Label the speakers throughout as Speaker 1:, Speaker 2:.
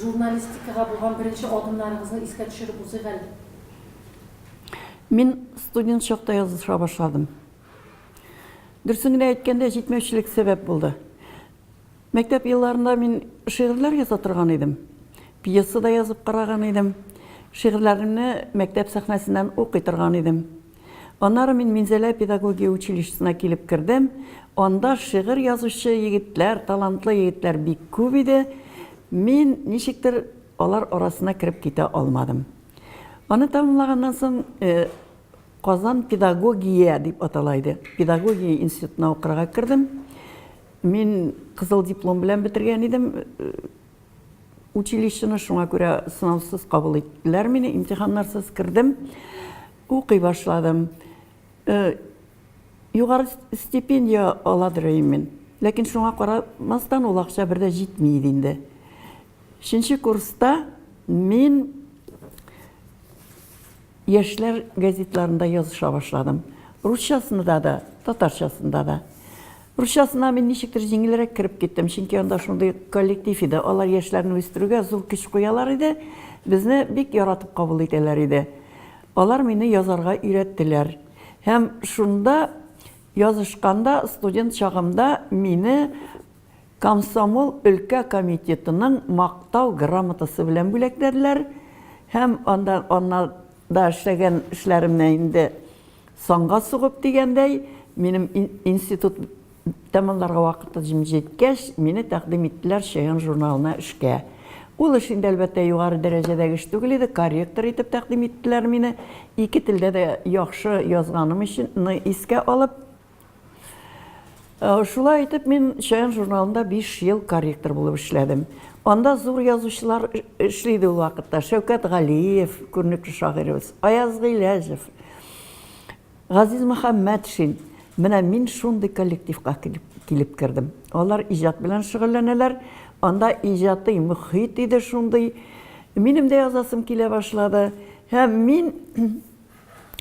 Speaker 1: Журналистикага булган беренче адымнарыгызны искә төшереп узыйк әле. Мин
Speaker 2: студент чакта языша башладым. Дөресен генә әйткәндә, җитмәүчелек сәбәп булды. Мәктәп елларында мин шигырьләр яза торган идем. Пьеса да язып караган идем. Шигырьләремне мәктәп сәхнәсеннән укый торган идем. Аннары мин Минзәлә педагогия училищесына килеп кердем. Анда шигырь язучы егетләр, талантлы егетләр бик күп иде. Мин ничектер алар арасына кереп китә алмадым. Аны тәмамлаганнан соң, Казан педагогия дип атала иде, педагогия институтына укырга кердем. Мин кызыл диплом белән бетергән идем училищены, шуңа күрә сынаусыз кабул иттеләр мине, имтиханнарсыз кердем. Укый башладым. Югары стипендия аладыр өйм мин. Ләкин шуңа карамастан ул акча бер дә җитми иде инде. Өченче курста мин яшьләр газетларында языша башладым. Русчасында да, татарчасында да. Русчасына мин ничектер җиңелрәк кереп киттем, чөнки анда шундый коллектив иде, алар яшьләрне үстерүгә зур көч куялар иде, безне бик яратып кабул итәләр иде. Алар мине язарга өйрәттеләр. Һәм шунда язышканда, студент чагымда мине комсомол өлкә комитетының Мактау грамотасы белән бүләкләделәр. Һәм анда, аннан да эшләгән эшләремне инде Санга сугып дигәндәй, минем институт тәмамларга вакытым җиткәч, мине тәкъдим иттеләр Чаян журналына эшкә. Ул эш инде, әлбәттә, югары дәрәҗәдәге эш түгел иде, корректор итеп тәкъдим иттеләр мине, ике телдә дә яхшы язганым өчен искә алып. Э, шулай итеп мин Чаян журналында 5 ел корректор булып эшләдем. Анда зур язучылар эшлейді ул вакытта. Шәүкәт Галиев, күренекле шагыйребез, Аяз Гыйләҗев, Газиз Мөхәммәтшин. Менә мин шундый коллективка килеп, килеп кердем. Алар иҗат белән шөгыльләнәләр. Анда иҗатый мөхит иде шундый. Минем дә язасым килә башлады. Һәм мин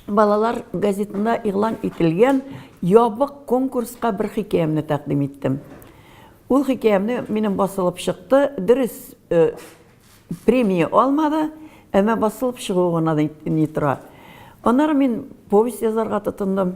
Speaker 2: балалар газетында игълан ителгән ябык конкурска бер хикәямне тәкъдим иттем. Ул хикәямне минем басылып чыкты, дөрес, э, премия алмады, әмма басылып чыгуы гына ни тора. Аннары мин повесть язарга тотындым.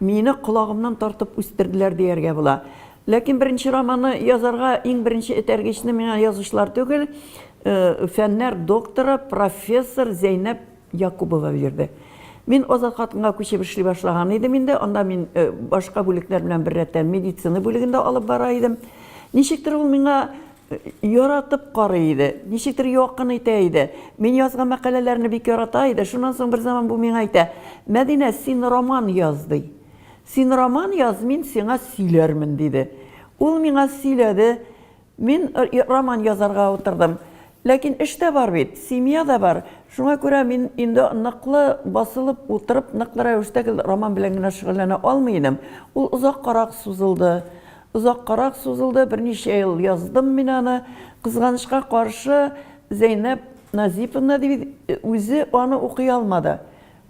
Speaker 2: Мине колагымнан тартып үстерделәр дияргә була. Ләкин беренче романны язарга иң беренче этәргечне миңа язучылар түгел, фәннәр докторы, профессор Зәйнәп Якубова бирде. Мин Азат хатынга күчеп эшли башлаган идем инде, анда мин башка бүлекләр белән беррәттән медицина бүлеген дә алып бара идем. Ничектер ул миңа Яратып карый иде. Ничектер якын итә иде. Мин язган мәкаләләрне бик ярата иде. Шуннан соң берзаман бу миңа әйтә, Мәдинә, син роман яз, ди. Син роман яз, мин сиңа сөйләрмен, диде. Ул миңа сөйләде. Мин роман язарга утырдым. Ләкин эш тә бар бит, семья да бар. Шуңа күрә мин инде ныклы басылып утырып, ныклы рәвештә гел роман белән генә шөгыльләнә алмый идем. Ул озаккарак сузылды. Озаккарак сузылды, берничә ел яздым мин аны. Кызганычка каршы, Зәйнәп Назиповна дибез, үзе аны укый алмады.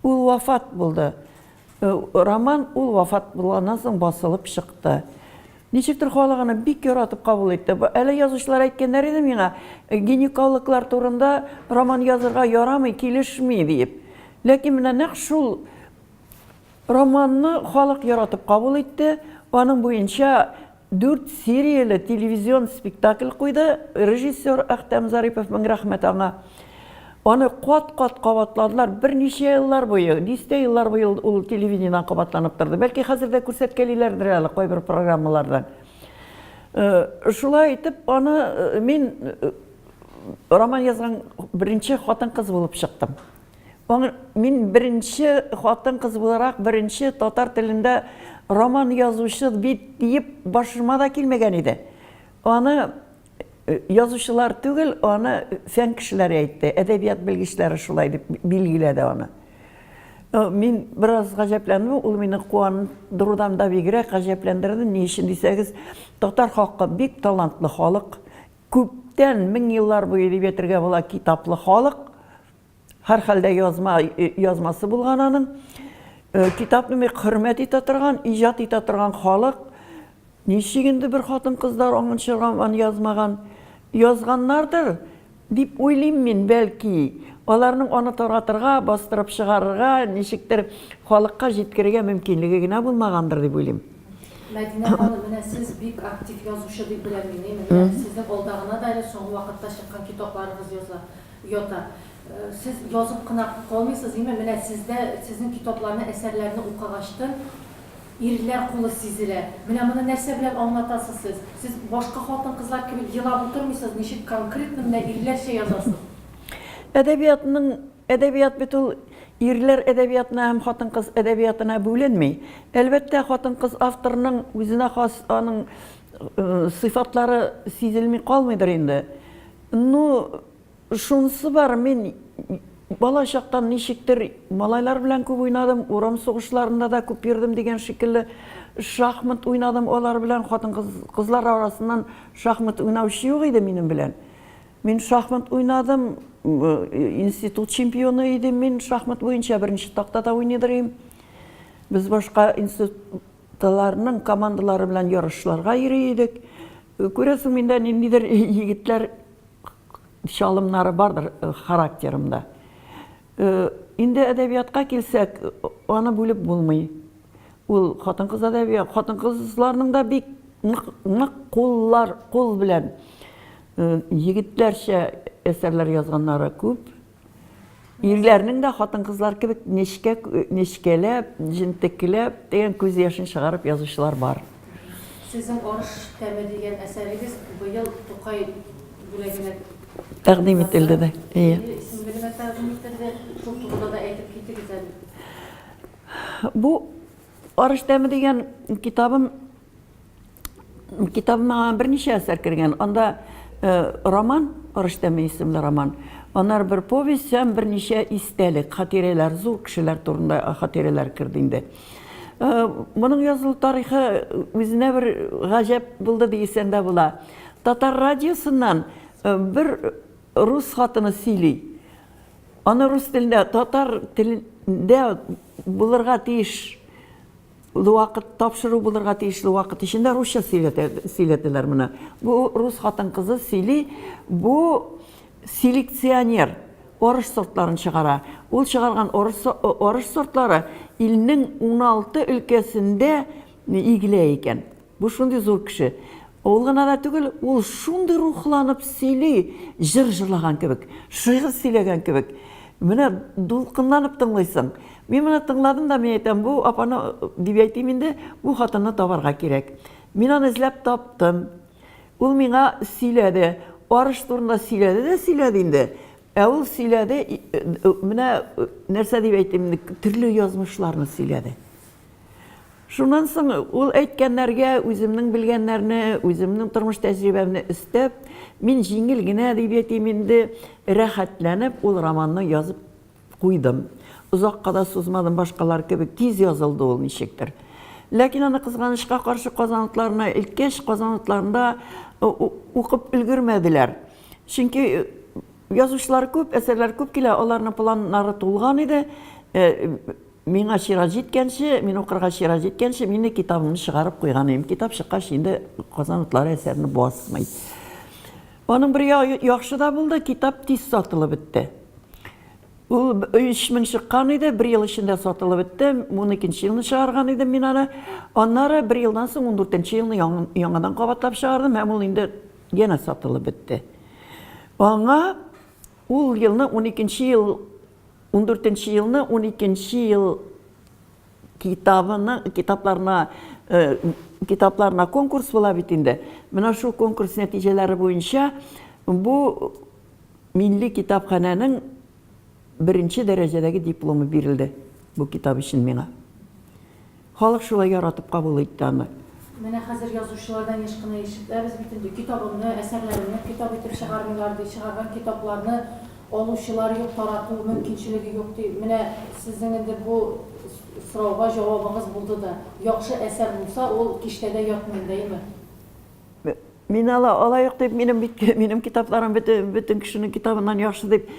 Speaker 2: Ул вафат булды. Роман ул вафат булганнан соң басылып чыкты. Ничектер халык аны бик яратып кабул итте. Әле язучылар әйткәннәр иде миңа, гинекологлар турында роман язырга ярамый, килешми, диеп. Ләкин менә нәкъ шул Романны халык яратып кабул итте, аның буенча дүрт серияле телевизион спектакль куйды режиссер Әхтәм Зарипов, мең рәхмәт аңа. Аны кат-кат кабатладылар, берничә еллар буе, дистә еллар буе ул, ул телевидениедән кабатланып торды. Бәлки хәзер дә күрсәткәлиләрдер әле кайбер программалардан. Э, шулай итеп, аны э, мин э, роман язган беренче хатын-кыз булып чыктым. Аңа мин беренче хатын-кыз буларак беренче татар телендә роман язучы бит диеп башыма да килмәгән иде. Аны язучылар түгел, аны фән кешеләре әйтте, әдәбият белгечләре шулай дип билгеләде аны. Мин бераз гаҗәпләндем, ул мине куандырудан да бигрәк гаҗәпләндерде. Ни өчен дисәгез, татар халкы бик талантлы халык, күптән, мең еллар буе дип әйтергә була, китаплы халык. Һәрхәлдә язма язмасы булган аның. Э, китапны бик хөрмәт итә торган, иҗат итә торган халык. Ничек инде бер хатын-кызлар аңынча роман язмаган? Язганнардыр дип уйлыйм мин, бәлки. Аларның аны таратырга, бастырып чыгарырга, ничектер халыкка җиткерергә мөмкинлеге генә булмагандыр дип уйлыйм. Мәдинә ханым,
Speaker 1: менә сез бик актив язучы дип беләм мин. Сезнең алдагына да әле соңгы вакытта чыккан китапларыгыз языла. Ята. Сез язып кына калмыйсыз, име, менә сездә, сезнең китапларны, әсәрләрне укыгачтын, ирләр кулы сизелә. Менә моны нәрсә белән аңлатасыз сез? Сез башка хатын-кызлар кебек елап утырмыйсыз, ничек конкретно менә ирләрчә язасыз? Әдәбиятның,
Speaker 2: әдәбият бит ул ирләр әдәбиятына һәм хатын-кыз әдәбиятына бүленми. Әлбәттә, хатын-кыз авторның үзенә хас аның сыйфатлары сизелми калмыйдыр инде. Ну, шунысы бар, мин бала чактан ничектер малайлар белән күп уйнадым, урам сугышларында да күп йөрдем дигән шикелле, шахмат уйнадым алар белән, хатын-кыз, кызлар арасыннан шахмат уйнаучы юк иде минем белән. Мин шахмат уйнадым, институт чемпионы идем мин шахмат буенча, беренче тактада уйныйдыр идем. Без башка институтларның командалары белән ярышларга йөри идек. Күрәсең, миндә ниндидер егетләр чалымнары бардыр характерымда. Инде әдәбиятка килсәк, аны бүлеп булмый. Ул хатын-кыз әдәбияты, хатын-кызларның да бик нык куллар, кул белән егетләрчә әсәрләр язганнары күп. Ирләрнең дә хатын-кызлар кебек нечкә нечкәләп, җентекләп дигән күз яшен чыгарып язучылар бар. Сезнең
Speaker 1: Арыш тәме дигән әсәрегез быел Тукай бүләгенә тәкъдим
Speaker 2: ителде дә. Ие. Исемлегенә
Speaker 1: тәкъдим ителде. Шул турыда да әйтеп китегез әле.
Speaker 2: Бу Арыш тәме дигән китабым Китабыма берничә әсәр кергән. Анда роман, Арыш тәме исемле роман. Аннары бер повесть һәм берничә истәлек, хатирәләр, зур кешеләр турында хатирәләр керде инде. Моның язылу тарихы үзенә бер гаҗәп булды дисәң дә була. Татар радиосыннан бер рус хатыны сөйли. Аны рус телендә, татар телендә булырга тиеш Вакыт, тапшыру булырга тиешле вакыт эчендә русча сөйләтәләр моны. Бу рус хатын-кызы сөйли, бу селекционер орыш сортларын чыгара. Ул чыгарган орыш сортлары илнең 16 өлкәсендә игелә икән. Бу шундый зур кеше. Ул гына да түгел, ул шундый рухланып сөйли, җыр җырлаган кебек, шигырь сөйләгән кебек. Менә дулкынланып тыңлыйсың. Мин моны тыңладым да, мин әйтәм, бу апаны, дип әйтим инде, бу хатынны табарга кирәк. Мин аны эзләп таптым. Ул миңа сөйләде. Арыш турында сөйләде дә сөйләде инде. Ә ул сөйләде, менә нәрсә дип әйтим инде, төрле язмышларны сөйләде. Шуннан соң ул әйткәннәргә үземнең белгәннәрне, үземнең тормыш тәҗрибәмне өстәп, мин җиңел генә дип әйтим инде, рәхәтләнеп ул романны язып куйдым. Озакка да сузмадым, башкалар кебек тиз язылды ул ничектер. Ләкин аны, кызганычка каршы, Казан утларына илткәч, Казан утларында укып өлгермәделәр. Чөнки язучылар күп, әсәрләр күп килә, аларның планнары тулган иде. Миңа чират җиткәнче, мин укырга чират җиткәнче, мине китабымны чыгарып куйган идем. Китап чыккач, инде Казан утлары әсәрне басмый. Аның бер яхшы да булды, китап тиз сатылып бетте. Ул 3000 чыккан иде, бер ел эчендә сатылып бетте. 12 елны чыгарган идем мин аны. Аннары бер елдан соң 14 елны яңадан кабатлап чыгардым һәм ул инде янә сатылып бетте. Аңа Ул елны уникенче ел, ундүртенче елны уникенче ел китабының китапларына китапларына конкурс була бит инде. Менә шул конкурс нәтиҗәләре буенча бу милли китапханәнең беренче дәрәҗәдәге дипломы бирелде бу китап өчен миңа. Халык шулай яратып кабул итте аны. Менә хәзер
Speaker 1: язучылардан еш кына ишетәбез бит инде, китабымны, әсәрләремне китап итеп чыгармыйлар, ди, чыгарган китапларны алучылар юк, тарату мөмкинчелеге юк, ди. Менә сезнең инде бу сорауга җавабыгыз булды да. Яхшы әсәр булса, ул киштәдә ятмый, бәйме?
Speaker 2: Мин ала алаек дип, минем бит, минем китапларым бөтен кешенең китабыннан яхшы дип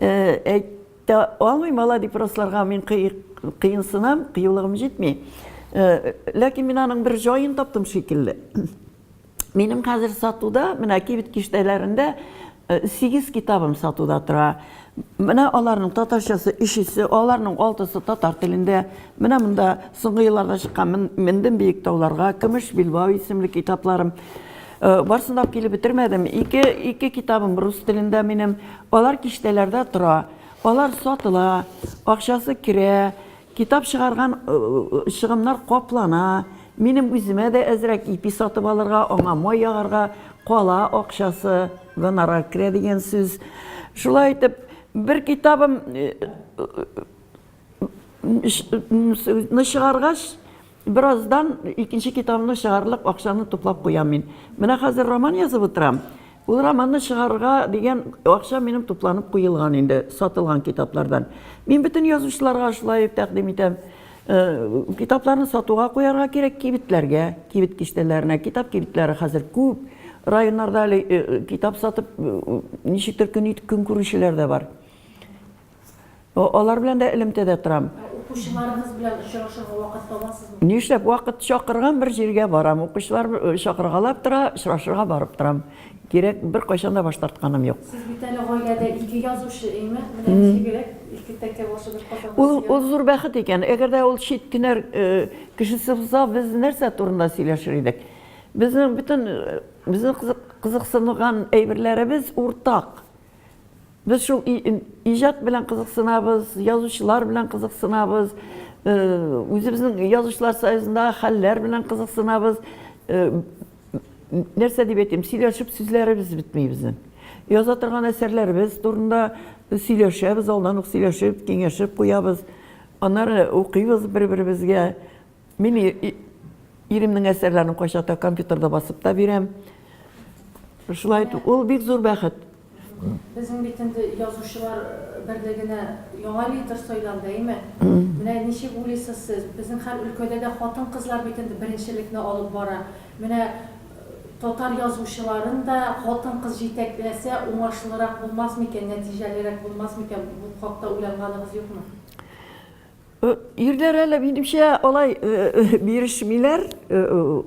Speaker 2: әйт. Тә алмыйм ала дип расларга мин кыенсынам, кыюлыгым җитми. Ләкин мин аның бер җаен таптым шикелле. Минем хәзер сатуда, менә кибет киштәләрендә сигез китабым сатуда тора. Менә аларның татарчасы өчесе, аларның алтысы татар телендә. Менә монда соңгы елларда чыккан Мендем биек тауларга, Көмеш билбау исемле китапларым. Э, барысын да килеп бетермәдем. Ике, ике китабым рус телендә минем. Алар киштәләрдә тора. Алар сатыла, акчасы керә, китап чыгарган э, э, чыгымнар каплана. Минем үземә дә әзрәк ипи сатып алырга, аңа май ягарга кала акчасы, гонорар керә дигән сүз. Шулай итеп, бер китабым чыгаргач, Бераздан икенче китабымны чыгарлык акчаны туплап куям мин. Менә хәзер роман язып утырам. Ул романны чыгарырга дигән акча минем тупланып куелган инде, сатылган китаплардан. Мин бөтен язучыларга шулай тәкъдим итәм. Китапларны сатуга куярга кирәк кибетләргә, кибет киштәләренә. Китап кибетләре хәзер күп. Районнарда әле китап сатып, ничектер көн итеп көн күрүчеләр дә бар. Алар белән дә элемтәдә торам. Укучыларыгыз белән
Speaker 1: очрашырга вакыт табасызмы? Нишләп вакыт
Speaker 2: чакырган бер җиргә барам. Укучылар чакыргалап тора, очрашырга барып торам. Кирәк, беркайчан да баш тартканым юк. Сез бит әле гаиләдә
Speaker 1: ике язучы, әйме? Менә ничегрәк, ике тәкә башы бер капка. Ул, ул зур бәхет икән.
Speaker 2: Әгәр дә ул чит кенәр кешесе булса, без нәрсә турында сөйләшер идек? Безнең бөтен, безнең кызыксынган әйберләребез уртак. Без шул иҗат белән кызыксынабыз, язучылар белән кызыксынабыз, үзебезнең язучылар союзында хәлләр белән кызыксынабыз. Нәрсә дип әйтим, сөйләшеп сүзләребез бетми безнең. Яза торган әсәрләребез турында сөйләшәбез, алдан ук сөйләшеп, киңәшеп куябыз. Аннары укыйбыз бер-беребезгә. Мин иремнең әсәрләрен кайчакта компьютерда басып та бирәм. Шулай итеп, ул бик зур бәхет. Безнең
Speaker 1: бит инде язучылар берлегенә яңа лидер сайланды, әйме? Менә ничек уйлыйсыз сез? Безнең һәр өлкәдә дә хатын-кызлар бит инде беренчелекне алып бара. Менә татар язучыларын да хатын-кыз җитәкләсә, уңышлырак булмас микән, нәтиҗәлерәк булмас микән? Бу хакта уйланганыгыз юкмы? Ирләр
Speaker 2: әле, минемчә, алай бирешмиләр,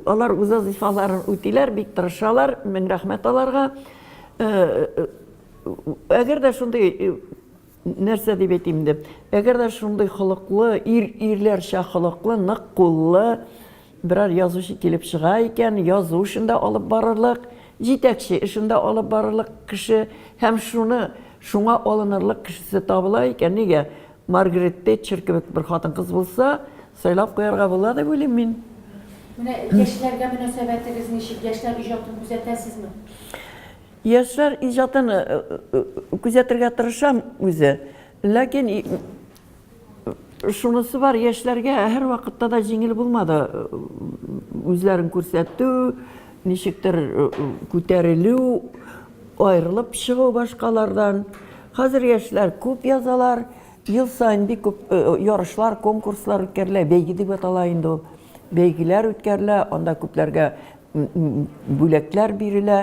Speaker 2: алар үз вазифаларын үтиләр, бик тырышалар, мең рәхмәт аларга. Әгәр дә шундый нәрсә дип әйтим инде, әгәр дә шундый холыклы, ир ирләрчә холыклы, нык куллы берәр язучы килеп чыга икән, язу эшен дә алып барырлык, җитәкче эшен дә алып барырлык кеше һәм шуны шуңа алынырлык кешесе табыла икән, нигә Маргарет Тэтчер кебек бер хатын-кыз булса, сайлап куярга була дип уйлыйм мин. Менә
Speaker 1: яшьләргә мөнәсәбәтегез ничек? Яшьләр иҗатын күзәтәсезме?
Speaker 2: Яшьләр иҗатын күзәтергә тырышам үзе. Ләкин шунысы бар, яшьләргә һәрвакытта да җиңел булмады үзләрен күрсәтү, ничектер күтәрелү, Аерылып чыгу башкалардан. Хәзер яшьләр күп язалар. Ел саен бик күп ярышлар, конкурслар үткәрелә. Бәйге дип атала инде ул. Бәйгеләр үткәрелә, анда күпләргә бүләкләр бирелә.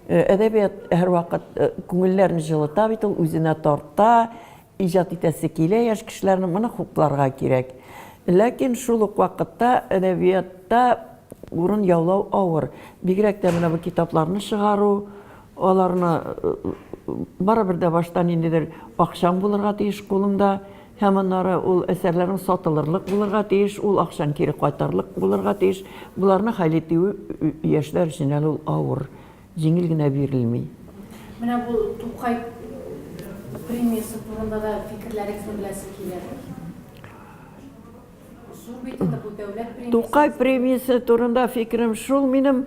Speaker 2: Әдәбият һәрвакыт күңелләрне җылыта бит ул, үзенә тарта. Иҗат итәсе килә яшь кешеләрнең, моны хупларга кирәк. Ләкин шул ук вакытта әдәбиятта урын яулау авыр. Бигрәк тә менә бу китапларны чыгару, аларны барыбер дә башта ниндидер акчаң булырга тиеш кулыңда, һәм аннары ул әсәрләрең сатылырлык булырга тиеш, ул акчаң кире кайтарлык булырга тиеш. Боларны хәл итү яшьләр өчен әле ул авыр.
Speaker 1: җиңел генә
Speaker 2: бирелми. Менә бу Тукай
Speaker 1: премиясе турында да фикерләрегезне беләсе килә. Зур бит инде бу дәүләт премиясе. Тукай премиясе
Speaker 2: турында фикерем шул минем,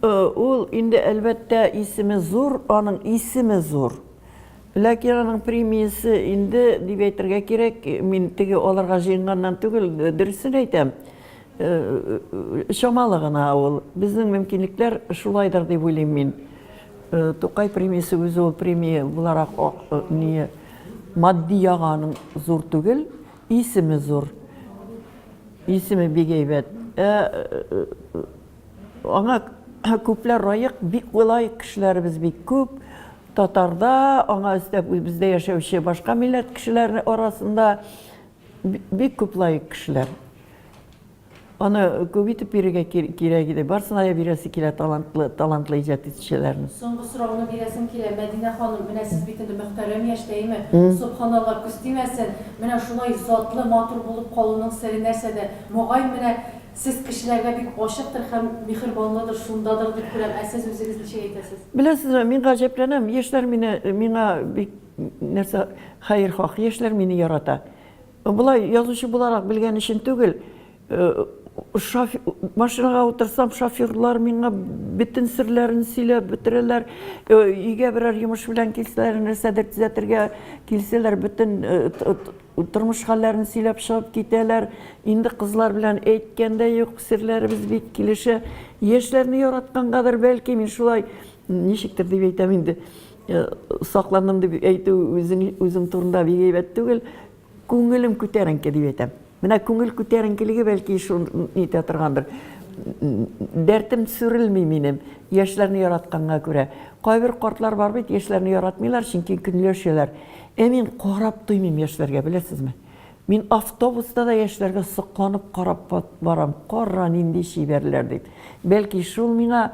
Speaker 2: ул инде, әлбәттә, исеме зур, аның исеме зур. Ләкин аның премиясе инде, дип әйтергә кирәк, мин теге алырга җыенганнан түгел, дөресен әйтәм. Чамалы гына ул. Безнең мөмкинлекләр шулайдыр дип уйлыйм мин. Тукай премиясе үзе ул премия буларак не матди ягы аның зур түгел, исеме зур. Исеме бик әйбәт. Ә аңа күпләр раек, бик болай кешеләребез бик күп. Татарда, аңа өстәп бездә яшәүче башка милләт кешеләре арасында. Бик күп лаек кешеләр. Аны күп итеп бирергә кирәк иде. Барсына да бирәсе килә талантлы, талантлы иҗат итүчеләрне. Соңгы сорауны бирәсем
Speaker 1: килә, Мәдинә ханым, менә сез бит инде мөхтәрәм яшь тәйме, собханалла, күз тимәсен, менә шулай затлы, матур булып калуның сере нәрсәдә? Мөгаен, менә сез кешеләргә бик ачыктыр һәм миһербанлыдыр, шундадыр дип күрәм, ә сез үзегез ничек әйтәсез? Беләсезме, мин
Speaker 2: гаҗәпләнәм, яшьләр мине, миңа бик Нәрсә, хәерхах яшьләр мине ярата. Болай язучы буларак белгән өчен түгел, машинага утырсам, шоферлар миңа бөтен серләрен сөйләп бетерәләр, өйгә берәр йомыш белән килсәләр, нәрсәдер төзәтергә килсәләр, бөтен тормыш хәлләрен сөйләп чыгып китәләр. Инде кызлар белән әйткән дә юк, серләребез бик килешә. Яшьләрне яраткангадыр, бәлки, мин шулай, ничектер дип әйтәм инде. Э, сакландым дип әйтү үзем турында бик әйбәт түгел. Күңелем күтәренке дип әйтәм. Менә күңел күтәренкелеге бәлки шул нитә торгандыр. Дәртем сүрелми минем, яшьләрне яратканга күрә. Кайбер картлар бар бит, яшьләрне яратмыйлар, чөнки көнләшәләр. Ә мин карап туймыйм яшьләргә, беләсезме? Мин автобуста да яшьләргә сокланып карап барам, кара, нинди чибәрләр дип. Бәлки, шул миңа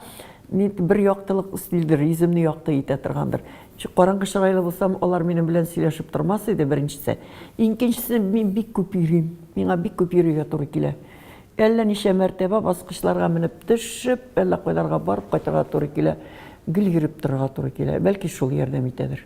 Speaker 2: бер яктылык өстилдер, йөземне якты итә торгандыр. Чү, караңгы чырайлы булсам, алар минем белән сөйләшеп тормас иде, беренчесе. Икенчесе, мин бик күп йөрим, миңа бик күп йөрергә туры килә. Әллә ничә мәртәбә баскычларга менеп төшеп, әллә кайларга барып кайтырга туры килә, гел йөреп торырга туры килә. Бәлки, шул ярдәм итәдер.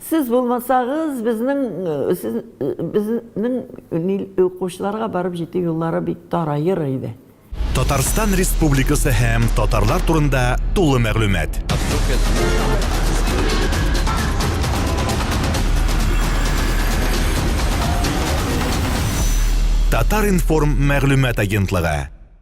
Speaker 2: Сез булмасагыз, безнең, сез, безнең ни, укучыларга барып җитү юллары бик тараер иде. Татарстан
Speaker 3: Республикасы һәм татарлар турында тулы мәгълүмат. Татар-информ мәгълүмат агентлыгы.